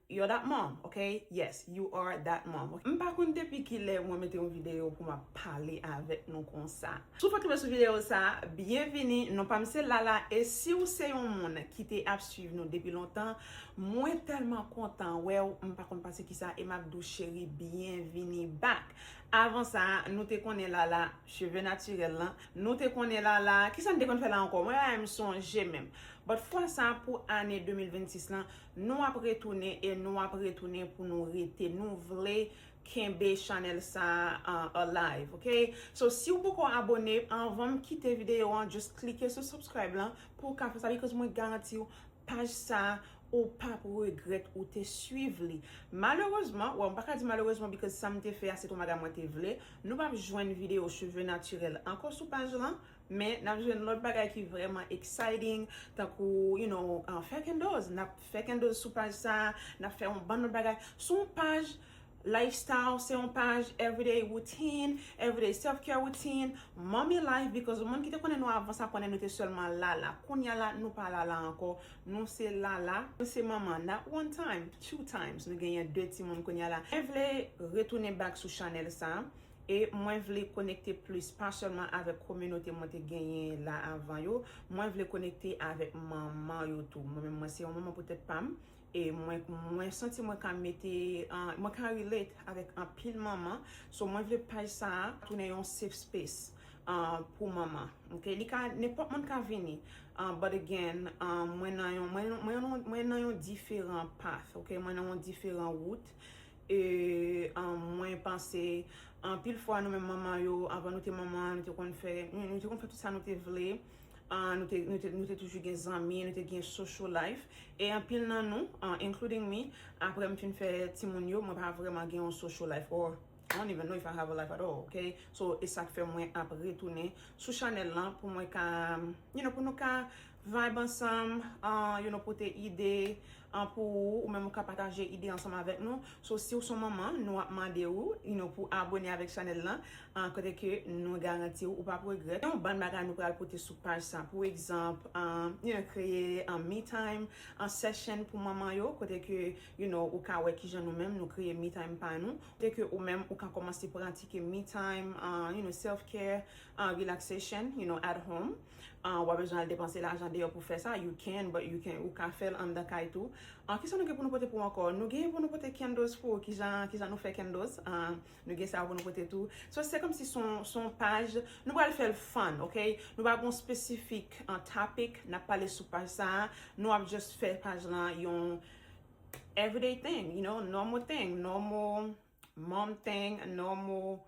You're that mom ok yes you are that mom ok. M pa konn depi kilè mwen mete yon video pou map pale avèk nou konsa. Si w fèk tonbe sou video sa, byenvini, non pa m se Lala e si w se yon moun ki te ap swiv nou depi lontan, mwen tèlman kontan wè w, m pa konn pase kisa e m ap di w cheri byenvini back. Avan sa, nou te konnen Lala, cheve natirèl lan, nou te konnen Lala, kisa n te konn fè la ankò, mwen la menm sonje menm. But fwa sa pou ane 2026 lan, Nou ap retounen e nou ap retounen pou nou rete nou vle kenbe chanèl sa alive ok so si ou poko abone anvanm kite video an just klike sou subscribe lan pou ou ka fè sa because mwen garantiw paj sa ou pap regrèt ou te swiv li malerezman wè m paka di malerezman because sam te fè a se ton bagay mwen te vle nou pap jwenn video cheve naturel ankò sou paj lan. Men, nap jwenn lòt bagay ki vrèman exciting, tankou, you know, fè kendoz. Nap fè kendoz sou paj sa, nap fè yon bann lòt bagay. Se yon paj lifestyle, se yon paj everyday routine, everyday self care routine, mommy life, because moun ki te konnen nou avan sa konnen nou te sèlman Lala. Kounya la, nou pa Lala ankò, nou se Lala, nou se manman, not one time, two times, nou genyen 2 timoun kounya la. Mwen vle retounen back sou chanèl sa. E mwen vle konekte plis, pa sèlman avèk kominote mwen te genyen la avan yo, mwen vle konekte avèk manman yo tou. Mwen menm mwen se yon manman pou tèt pa m, e mwen mwen santi mwen ka mete mwen ka relate avèk anpil manman, so mwen vle paj sa a tounen yon safe space pou manman ok li ka nenpòt moun ka vini but again mwen nan yon mwen nan yon diferan path ok mwen nan yon diferan wout E mwen panse anpil fwa nou menm manman yo, anvan nou te manman, nou te konn fè, nou te konn fè tout sa nou te vle, nou te toujou gen zanmi, nou te gen social life. E anpil nan nou, including me, apre m fin fè timoun yo, mwen pa vrèman gen yon social life or I don't even know if I have a life at all, ok? So, e sa k fè mwen ap retounen sou chanèl lan pou mwen ka, you know, pou nou ka Vibe ansanm an you nou pote ide an pou ou ou menm ou ka pataje ide ansanm avèk nou so si ou son manman nou ap mande ou you nou pou abone avèk chanèl lan an kote ke nou garanti ou ou pap regrèt gen yon bann bagay nou pral pote sou paj sa pou egzanp you nou kreye an me time an session pou manman yo kote ke you nou ou ka wè kijan nou menm nou kreye me time pa nou kote ke ou menm ou ka kòmanse pratike me time an you nou self care an relaxation you nou at home. An wap bezwen al depanse lajan deyò pou fè sa, you can but you can ou ka fèl anndan kay tou. An kisa nou gen pou nou pote pou ou ankò? Nou genyen pou nou pote candles pou ou kijan kijan nou fè candles an nou gen sa pou nou pote tou. So se kòmsi son son paj nou pral fèl fun ok nou pa gon spesifik an topic nap pale sou paj sa nou ap just fè paj lan yon everyday thing you know normal thing normal mom thing normal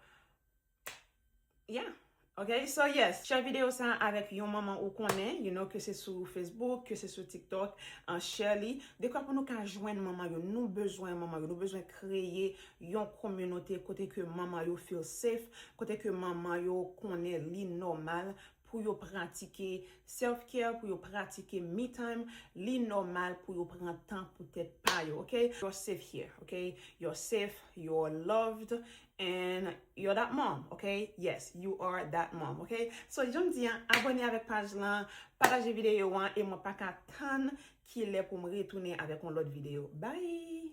Yeah! Ok, so yes, share video sa avèk yon manman ou konnen, you know, ke se sou Facebook, ke se sou TikTok, share li, dekwa pou nou ka jwenn manman yo, nou bezwen manman yo, nou bezwen kreye yon kominote kote ke manman yo feel safe, kote ke manman yo konnen li nòmal pou yo pratike self care, pou yo pratike me time, li nòmal pou yo pran tan pou tèt pa yo, ok, you're safe here, ok, you're safe, you're loved. And you're that mom ok yes you are that mom ok so janm di an abone avèk paj lan pataje videyo an e mwen paka tann kilè poum retounen avèk yon lòt videyo bye.